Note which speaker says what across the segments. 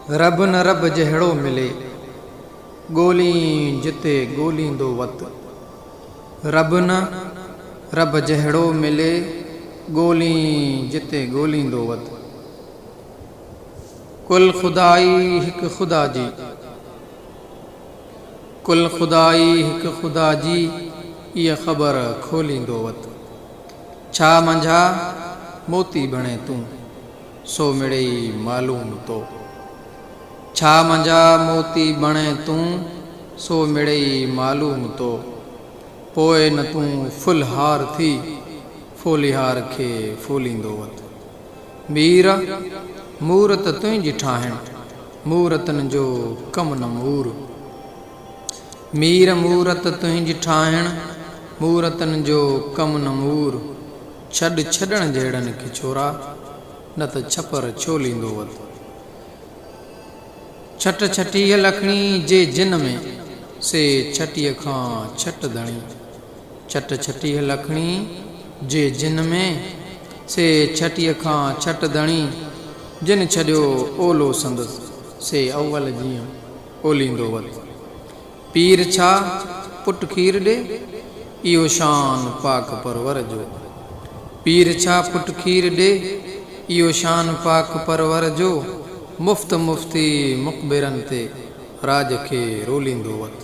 Speaker 1: رب نه رب جهڙو ملي، ڳولين جتي ڳوليندو وت. رب نه رب جهڙو ملي، ڳولين جتي ڳوليندو وت. ڪل خدائي هڪ خدا جي. ڪل خدائي هڪ خدا جي، ايء خبر کوليندو وت. ڇا منجها موتي بڻي تون، سو مڙيئي معلوم تو. ڇا منجها موتي بڻي تون، سو مڙيئي معلوم تو. پوء نه تون ڦل هار ٿي، ڦوليهار کي ڦوليندو وت. مير! مورت تنهنجي ٺاهڻ، مورتن جو ڪم نه مور. مير مورت تنهنج ٺاهڻ، مورتن جو ڪم نه مور. ڇڏ ڇڏڻ جهڙن کي ڇورا، نه ته ڇپر ڇوليندو وت. ڇٽ ڇٽيهه لکڻي جي جن ۾، سي ڇٽيهه کان ڇٽ ڌڻي. ڇٽ ڇٽيهه لکڻي جي جن ۾، سي ڇٽيهه کان ڇٽ ڌڻي، جن ڇڏيو اولو سندس، سي اول جيئن اوليندو وت. پير ڇا، پٽ کير ڏي، اهو شان پاڪ پرور جو. پير ڇا، پٽ کير ڏي، اهو شان پاڪ پرور جو، مفت مفتي مقبرن تي، راڄ کي روليندو وت.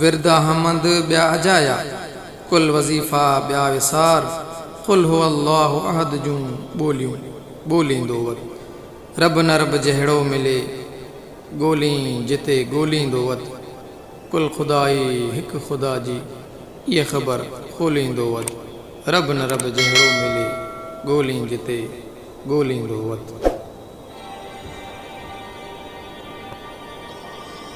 Speaker 1: ورد احمد ٻيا اجايا، ڪل وظيفا ٻيا وسار، قل هو الله احد جون ٻوليون ٻوليندو وت، رب نه رب جهڙو ملي، ڳولين جتي ڳوليندو وت، ڪل خدائي هڪ خدا جي اهي خبر کوليندو وت، رب نه رب جهڙو ملي، ڳولين جتي ڳوليندو وت.